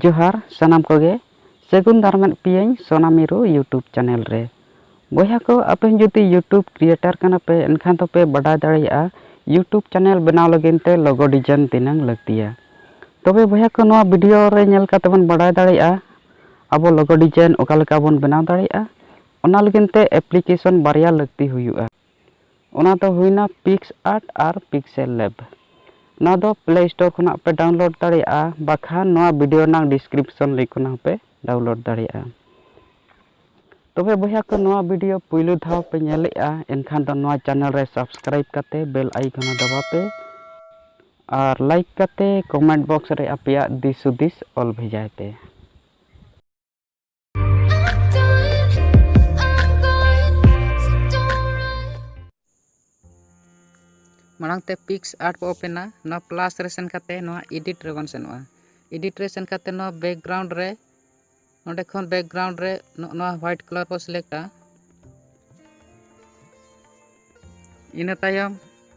ᱡᱚᱦᱟᱨ ᱥᱟᱱᱟᱢ ᱠᱚᱜᱮ ᱥᱟᱹᱜᱩᱱ ᱫᱟᱨᱟᱢᱮᱫ ᱯᱮᱭᱟᱹᱧ ᱥᱚᱱᱟ ᱢᱤᱨᱩ ᱭᱩᱴᱩᱵᱽ ᱪᱮᱱᱮᱞ ᱨᱮ ᱵᱚᱭᱦᱟ ᱠᱚ ᱟᱯᱮ ᱡᱩᱫᱤ ᱭᱩᱴᱩᱵᱽ ᱠᱨᱤᱭᱮᱴᱟᱨ ᱠᱟᱱᱟ ᱯᱮ ᱮᱱᱠᱷᱟᱱ ᱫᱚ ᱯᱮ ᱵᱟᱰᱟᱭ ᱫᱟᱲᱮᱭᱟᱜᱼᱟ ᱭᱩᱴᱩᱵᱽ ᱪᱮᱱᱮᱞ ᱵᱮᱱᱟᱣ ᱞᱟᱹᱜᱤᱫ ᱛᱮ ᱞᱚᱜᱚ ᱰᱤᱡᱟᱭᱤᱱ ᱛᱤᱱᱟᱹᱝ ᱞᱟᱹᱠᱛᱤᱭᱟ ᱛᱚᱵᱮ ᱵᱚᱭᱦᱟ ᱠᱚ ᱱᱚᱣᱟ ᱵᱷᱤᱰᱤᱭᱳ ᱨᱮ ᱧᱮᱞ ᱠᱟᱛᱮ ᱵᱚᱱ ᱵᱟᱰᱟᱭ ᱫᱟᱲᱮᱭᱟᱜᱼᱟ ᱟᱵᱚ ᱞᱚᱜᱚ ᱰᱤᱡᱟᱭᱤᱱ ᱚᱠᱟ ᱞᱮᱠᱟ ᱵᱚᱱ ᱵᱮᱱᱟᱣ ᱫᱟᱲᱮᱭᱟᱜᱼᱟ ᱚᱱᱟ ᱞᱟᱹᱜᱤᱫ ᱛᱮ ᱮᱯᱞᱤᱠᱮᱥᱚᱱ ᱵᱟᱨᱭᱟ ᱞᱟᱹᱠᱛᱤ ᱦᱩᱭᱩᱜᱼᱟ ᱚᱱᱟ ᱫᱚ ᱦᱩᱭᱱᱟ ᱯᱤᱠᱥ ᱟᱨᱴ ᱟᱨ ᱯᱤᱠᱥᱮᱞ ᱞᱮᱵ᱾ ᱱᱚᱣᱟ ᱫᱚ ᱯᱞᱮ ᱥᱴᱳᱨ ᱠᱷᱚᱱᱟᱜ ᱦᱚᱸᱯᱮ ᱰᱟᱣᱩᱱᱞᱳᱰ ᱫᱟᱲᱮᱭᱟᱜᱼᱟ ᱵᱟᱠᱷᱟᱱ ᱱᱚᱣᱟ ᱵᱷᱤᱰᱤᱭᱳ ᱨᱮᱱᱟᱜ ᱰᱤᱥᱠᱨᱤᱯᱥᱚᱱ ᱞᱤᱝᱠ ᱠᱷᱚᱱᱟᱜ ᱦᱚᱸᱯᱮ ᱰᱟᱣᱩᱱᱞᱳᱰ ᱫᱟᱲᱮᱭᱟᱜᱼᱟ᱾ ᱛᱚᱵᱮ ᱵᱚᱭᱦᱟ ᱠᱚ ᱱᱚᱣᱟ ᱵᱷᱤᱰᱤᱭᱳ ᱯᱩᱭᱞᱩ ᱫᱷᱟᱣ ᱯᱮ ᱧᱮᱞᱮᱫᱼᱟ ᱮᱱᱠᱷᱟᱱ ᱫᱚ ᱱᱚᱣᱟ ᱪᱮᱱᱮᱞ ᱨᱮ ᱥᱟᱵᱥᱠᱨᱟᱭᱤᱵᱽ ᱠᱟᱛᱮ ᱵᱮᱞ ᱟᱭᱤᱠᱚᱱ ᱦᱚᱸ ᱫᱟᱵᱟᱣ ᱯᱮ ᱟᱨ ᱞᱟᱭᱤᱠ ᱠᱟᱛᱮ ᱠᱚᱢᱮᱱᱴ ᱵᱚᱠᱥ ᱨᱮ ᱟᱯᱮᱭᱟᱜ ᱫᱤᱥ ᱦᱩᱫᱤᱥ ᱚᱞ ᱵᱷᱮᱡᱟᱭ ᱯᱮ᱾ ᱢᱟᱲᱟᱝ ᱛᱮ ᱯᱤᱠᱥ ᱟᱨᱴ ᱵᱚ ᱳᱯᱮᱱᱟ ᱱᱚᱣᱟ ᱯᱞᱟᱥ ᱨᱮ ᱥᱮᱱ ᱠᱟᱛᱮ ᱱᱚᱣᱟ ᱮᱰᱤᱴ ᱨᱮ ᱵᱚᱱ ᱥᱮᱱᱚᱜᱼᱟ ᱮᱰᱤᱴ ᱨᱮ ᱥᱮᱱ ᱠᱟᱛᱮ ᱱᱚᱣᱟ ᱵᱮᱠᱜᱨᱟᱣᱩᱱᱰ ᱨᱮ ᱱᱚᱰᱮ ᱠᱷᱚᱱ ᱵᱮᱠᱜᱨᱟᱣᱩᱱᱰ ᱨᱮ ᱱᱚᱣᱟ ᱦᱳᱣᱟᱭᱤᱴ ᱠᱟᱞᱟᱨ ᱵᱚ ᱥᱤᱞᱮᱠᱴᱟ ᱤᱱᱟᱹ ᱛᱟᱭᱚᱢ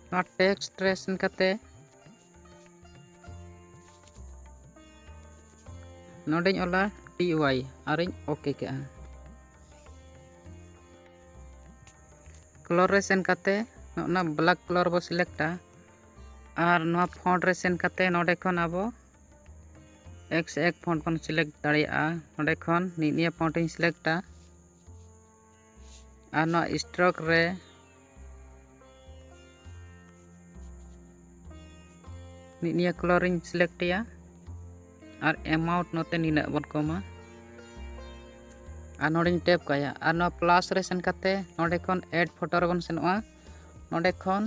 ᱱᱚᱣᱟ ᱴᱮᱠᱥᱴ ᱨᱮ ᱥᱮᱱ ᱠᱟᱛᱮ ᱱᱚᱰᱮᱧ ᱚᱞᱟ ᱴᱤ ᱚᱣᱟᱭ ᱟᱨᱤᱧ ᱳᱠᱮ ᱠᱮᱜᱼᱟ ᱠᱞᱚᱨ ᱨᱮ ᱥᱮᱱ ᱠᱟᱛᱮ ᱱᱚᱜᱼᱱᱟ ᱵᱞᱟᱠ ᱠᱞᱚᱨ ᱵᱚ ᱥᱤᱞᱮᱠᱴᱟ ᱟᱨ ᱱᱚᱣᱟ ᱯᱷᱚᱱᱴ ᱨᱮ ᱥᱮᱱ ᱠᱟᱛᱮ ᱱᱚᱰᱮ ᱠᱷᱚᱱ ᱟᱵᱚ ᱮᱠᱥ ᱮᱠ ᱯᱷᱚᱱᱴ ᱵᱚᱱ ᱥᱤᱞᱮᱠᱴ ᱫᱟᱲᱮᱭᱟᱜᱼᱟ ᱱᱚᱰᱮ ᱠᱷᱚᱱ ᱱᱤᱭᱟᱹ ᱯᱷᱚᱱᱴ ᱤᱧ ᱥᱤᱞᱮᱠᱴᱟ ᱟᱨ ᱱᱚᱣᱟ ᱥᱴᱨᱚᱠ ᱨᱮ ᱢᱤᱫ ᱱᱤᱭᱟᱹ ᱠᱞᱚᱨᱤᱧ ᱥᱤᱞᱮᱠᱴᱮᱭᱟ ᱟᱨ ᱮᱢᱟᱣᱩᱱᱴ ᱱᱚᱛᱮ ᱱᱤᱱᱟᱹᱜ ᱵᱚᱱ ᱠᱚᱢᱟ ᱟᱨ ᱱᱚᱰᱮᱧ ᱴᱮᱯ ᱠᱟᱭᱟ ᱟᱨ ᱱᱚᱣᱟ ᱯᱞᱟᱥ ᱨᱮ ᱥᱮᱱ ᱠᱟᱛᱮ ᱱᱚᱰᱮ ᱠᱷᱚᱱ ᱮᱰ ᱯᱷᱳᱴᱳ ᱨᱮᱵᱚᱱ ᱥᱮᱱᱚᱜᱼᱟ ᱱᱚᱰᱮ ᱠᱷᱚᱱ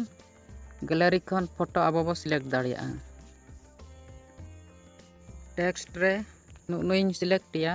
ᱜᱮᱞᱟᱨᱤ ᱠᱷᱚᱱ ᱯᱷᱳᱴᱳ ᱟᱵᱚ ᱵᱚ ᱥᱤᱞᱮᱠᱴ ᱫᱟᱲᱮᱭᱟᱜᱼᱟ ᱴᱮᱠᱥᱴ ᱨᱮ ᱱᱩᱜ ᱱᱩᱭᱤᱧ ᱥᱤᱞᱮᱠᱴᱮᱭᱟ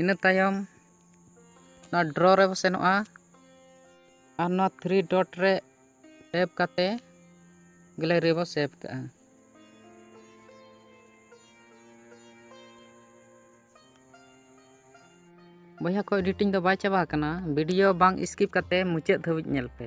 ᱤᱱᱟᱹ ᱛᱟᱭᱚᱢ ᱱᱚᱣᱟ ᱰᱨᱚ ᱨᱮ ᱵᱚ ᱥᱮᱱᱚᱜᱼᱟ ᱟᱨ ᱱᱚᱣᱟ ᱛᱷᱨᱤ ᱰᱚᱴ ᱨᱮ ᱴᱮᱯ ᱠᱟᱛᱮ ᱜᱮᱞᱟᱨᱤ ᱵᱚ ᱥᱮᱵᱷ ᱠᱟᱜᱼᱟ ᱵᱚᱭᱦᱟ ᱠᱚ ᱮᱰᱤᱴᱤᱝ ᱫᱚ ᱵᱟᱭ ᱪᱟᱵᱟ ᱟᱠᱟᱱᱟ ᱵᱷᱤᱰᱤᱭᱳ ᱵᱟᱝ ᱥᱠᱤᱯ ᱠᱟᱛᱮ ᱢᱩᱪᱟᱹᱫ ᱫᱷᱟᱹᱵᱤᱡ ᱧᱮᱞ ᱯᱮ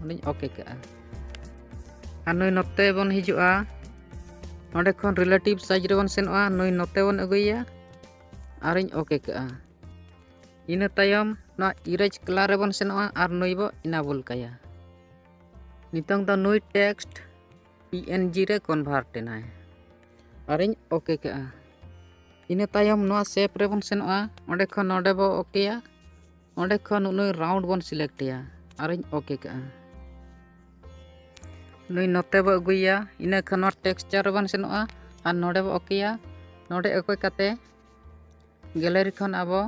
ᱚᱱᱟᱧ ᱳᱠᱮ ᱠᱟᱜᱼᱟ ᱟᱨ ᱱᱩᱭ ᱱᱚᱛᱮ ᱵᱚᱱ ᱦᱤᱡᱩᱜᱼᱟ ᱱᱚᱰᱮ ᱠᱷᱚᱱ ᱨᱤᱞᱮᱴᱤᱵᱷ ᱥᱟᱭᱤᱡᱽ ᱨᱮᱵᱚᱱ ᱥᱮᱱᱚᱜᱼᱟ ᱱᱩᱭ ᱱᱚᱛᱮ ᱵᱚᱱ ᱟᱹᱜᱩᱭᱟ ᱟᱨᱤᱧ ᱳᱠᱮ ᱠᱟᱜᱼᱟ ᱤᱱᱟᱹ ᱛᱟᱭᱚᱢ ᱱᱚᱣᱟ ᱤᱨᱮᱡᱽ ᱠᱟᱞᱟᱨ ᱨᱮᱵᱚᱱ ᱥᱮᱱᱚᱜᱼᱟ ᱟᱨ ᱱᱩᱭ ᱵᱚ ᱤᱱᱟᱵᱚᱞ ᱠᱟᱭᱟ ᱱᱤᱛᱚᱝ ᱫᱚ ᱱᱩᱭ ᱴᱮᱠᱥᱴ ᱯᱤ ᱮᱱ ᱡᱤ ᱨᱮ ᱠᱚᱱᱵᱷᱟᱨᱴ ᱮᱱᱟᱭ ᱟᱨᱤᱧ ᱳᱠᱮ ᱠᱟᱜᱼᱟ ᱤᱱᱟᱹ ᱛᱟᱭᱚᱢ ᱱᱚᱣᱟ ᱥᱮᱯ ᱨᱮᱵᱚᱱ ᱥᱮᱱᱚᱜᱼᱟ ᱚᱸᱰᱮ ᱠᱷᱚᱱ ᱱᱚᱰᱮ ᱵᱚ ᱳᱠᱮᱭᱟ ᱚᱸᱰᱮ ᱠᱷᱚᱱ ᱱᱩᱭ ᱨᱟᱣᱩᱱᱰ ᱵᱚᱱ ᱥᱤᱞᱮᱠᱴᱮᱭᱟ ᱟᱨᱤᱧ ᱳᱠᱮ ᱠᱟᱜᱼᱟ ᱱᱩᱭ ᱱᱚᱛᱮ ᱵᱚ ᱟᱹᱜᱩᱭᱟ ᱤᱱᱟᱹ ᱠᱷᱚᱱ ᱱᱚᱣᱟ ᱴᱮᱠᱥᱪᱟᱨ ᱨᱮᱵᱚᱱ ᱥᱮᱱᱚᱜᱼᱟ ᱟᱨ ᱱᱚᱰᱮ ᱵᱚ ᱳᱠᱮᱭᱟ ᱱᱚᱰᱮ ᱚᱠᱚᱭ ᱠᱟᱛᱮ ᱜᱮᱞᱟᱨᱤ ᱠᱷᱚᱱ ᱟᱵᱚ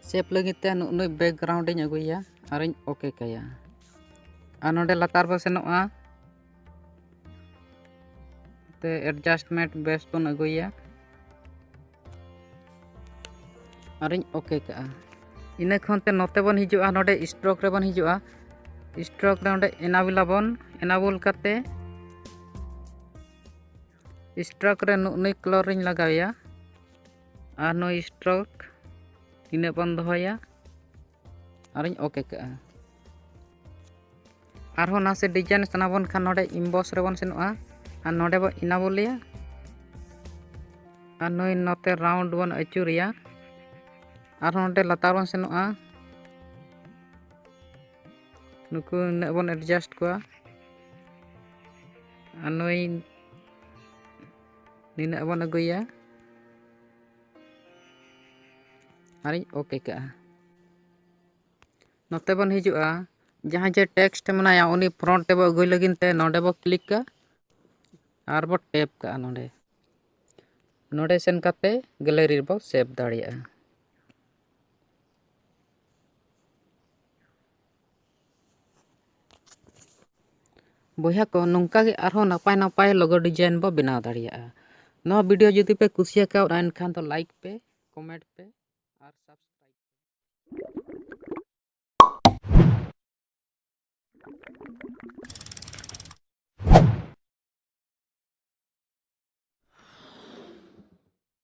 ᱥᱮᱯ ᱞᱟᱹᱜᱤᱫ ᱛᱮ ᱱᱩᱭ ᱵᱮᱠᱜᱨᱟᱣᱩᱱᱰ ᱤᱧ ᱟᱹᱜᱩᱭᱟ ᱟᱨᱤᱧ ᱳᱠᱮ ᱠᱟᱭᱟ ᱟᱨ ᱱᱚᱰᱮ ᱞᱟᱛᱟᱨ ᱵᱚ ᱥᱮᱱᱚᱜᱼᱟ ᱛᱮ ᱮᱰᱡᱟᱥᱴᱢᱮᱱᱴ ᱵᱮᱥ ᱵᱚᱱ ᱟᱹᱜᱩᱭᱟ ᱟᱨᱤᱧ ᱳᱠᱮ ᱠᱟᱜᱼᱟ ᱤᱱᱟᱹ ᱠᱷᱚᱱ ᱛᱮ ᱱᱚᱛᱮ ᱵᱚᱱ ᱦᱤᱡᱩᱜᱼᱟ ᱱᱚᱰᱮ ᱥᱴᱨᱳᱠ ᱨᱮᱵᱚᱱ ᱦᱤᱡᱩᱜᱼᱟ ᱥᱴᱨᱳᱠ ᱨᱮ ᱱᱚᱰᱮ ᱮᱱᱟᱵᱩᱞ ᱟᱵᱚᱱ ᱮᱱᱟᱵᱩᱞ ᱠᱟᱛᱮ ᱥᱴᱨᱳᱠ ᱨᱮ ᱱᱩᱭ ᱠᱞᱚᱨ ᱨᱤᱧ ᱞᱟᱜᱟᱣᱮᱭᱟ ᱟᱨ ᱱᱩᱭ ᱥᱴᱨᱳᱠ ᱤᱱᱟᱹ ᱵᱚᱱ ᱫᱚᱦᱚᱭᱟ ᱟᱨᱤᱧ ᱳᱠᱮ ᱠᱟᱜᱼᱟ ᱟᱨᱦᱚᱸ ᱱᱟᱥᱮ ᱰᱤᱡᱟᱭᱤᱱ ᱥᱟᱱᱟ ᱵᱚᱱ ᱠᱷᱟᱱ ᱱᱚᱰᱮ ᱤᱢᱵᱚᱥ ᱨᱮᱵᱚᱱ ᱥᱮᱱᱚᱜᱼᱟ ᱟᱨ ᱱᱚᱰᱮ ᱵᱚᱱ ᱤᱱᱟᱵᱚᱞᱮᱭᱟ ᱟᱨ ᱱᱩᱭ ᱱᱚᱛᱮ ᱨᱟᱣᱩᱱᱰ ᱵᱚᱱ ᱟᱹᱪᱩᱨᱮᱭᱟ ᱟᱨᱦᱚᱸ ᱱᱚᱰᱮ ᱞᱟᱛᱟᱨ ᱵᱚᱱ ᱥᱮᱱᱚᱜᱼᱟ ᱱᱩᱠᱩ ᱱᱤᱱᱟᱹᱜ ᱵᱚᱱ ᱮᱰᱡᱟᱥᱴ ᱠᱚᱣᱟ ᱟᱨ ᱱᱩᱭ ᱱᱤᱱᱟᱹᱜ ᱵᱚᱱ ᱟᱹᱜᱩᱭᱟ ᱟᱨᱤᱧ ᱳᱠᱮ ᱠᱟᱜᱼᱟ ᱱᱚᱛᱮ ᱵᱚᱱ ᱦᱤᱡᱩᱜᱼᱟ ᱡᱟᱦᱟᱸ ᱡᱮ ᱴᱮᱠᱥᱴ ᱢᱮᱱᱟᱭᱟ ᱩᱱᱤ ᱯᱷᱨᱚᱱᱴ ᱛᱮᱵᱚ ᱟᱹᱜᱩᱭ ᱞᱟᱹᱜᱤᱫ ᱛᱮ ᱱᱚᱰᱮ ᱵᱚ ᱠᱞᱤᱠ ᱠᱟᱜᱼᱟ ᱟᱨ ᱵᱚ ᱴᱮᱯ ᱠᱟᱜᱼᱟ ᱱᱚᱰᱮ ᱱᱚᱰᱮ ᱥᱮᱱ ᱠᱟᱛᱮ ᱜᱮᱞᱟᱨᱤ ᱨᱮᱵᱚ ᱥᱮᱵᱷ ᱫᱟᱲᱮᱭᱟᱜᱼᱟ ᱵᱚᱭᱦᱟ ᱠᱚ ᱱᱚᱝᱠᱟ ᱜᱮ ᱟᱨᱦᱚᱸ ᱱᱟᱯᱟᱭ ᱱᱟᱯᱟᱭ ᱞᱚᱜᱚ ᱰᱤᱡᱟᱭᱤᱱ ᱵᱚ ᱵᱮᱱᱟᱣ ᱫᱟᱲᱮᱭᱟᱜᱼᱟ ᱱᱚᱣᱟ ᱵᱷᱤᱰᱤᱭᱳ ᱡᱩᱫᱤ ᱯᱮ ᱠᱩᱥᱤᱭᱟᱠᱟᱣᱫᱟ ᱮᱱᱠᱷᱟᱱ ᱫᱚ ᱞᱟᱭᱤᱠ ᱯᱮ ᱠᱚᱢᱮᱱᱴ ᱯᱮ ᱟᱨ ᱥᱟᱵᱥᱠᱨᱟᱭᱤᱵ